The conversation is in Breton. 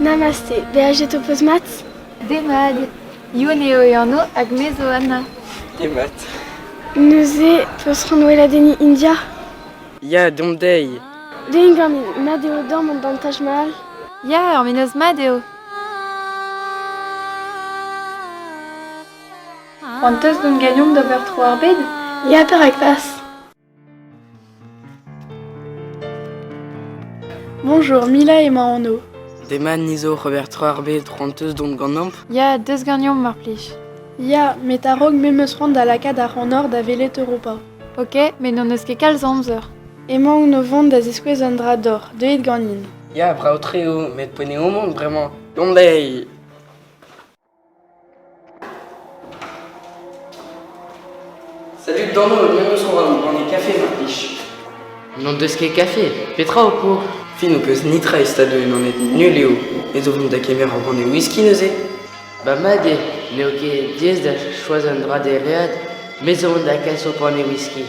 Namaste, beajet ho peus mat? Demat, Youn eo e anv hag me zo Anna. Demat. Neuze, peus c'hoant weladenniñ India? Ya, dom dezhi. Deomp ganin, mat eo dam an dantaj mal? Ya, ur menoz mat eo. C'hoant teus dont gagnomp d'ober tro ar bed? Ya, perak pas? Bonjour, Mila emañ anv. Demat ni zo rebertr ar bed ranteus dont ganeomp. Ya, des ganeomp mar plij. Ya, met a-raok me meus c'hoant da lakaat ar c'hanor da welet Europa. Ok, met n'hon eus ket kalz amzer. Emaon o vont da ziskouez un dra d'oc'h, deuit ganin. Ya, brav-tre eo, met poneomp on, bremañ. Gant lei! Salut Dano, viens nous soir nous prendre des cafés, ma fiche. N'en deus ket kafe, petra ho pour Fin ho peus nitra e stad eun aned nul eo, ez o vont da kemer ur ranne whisky neuze Ba mad eo, n'eo ket diaes da choaz un dra deread, me zo on da kas ho pane whisky.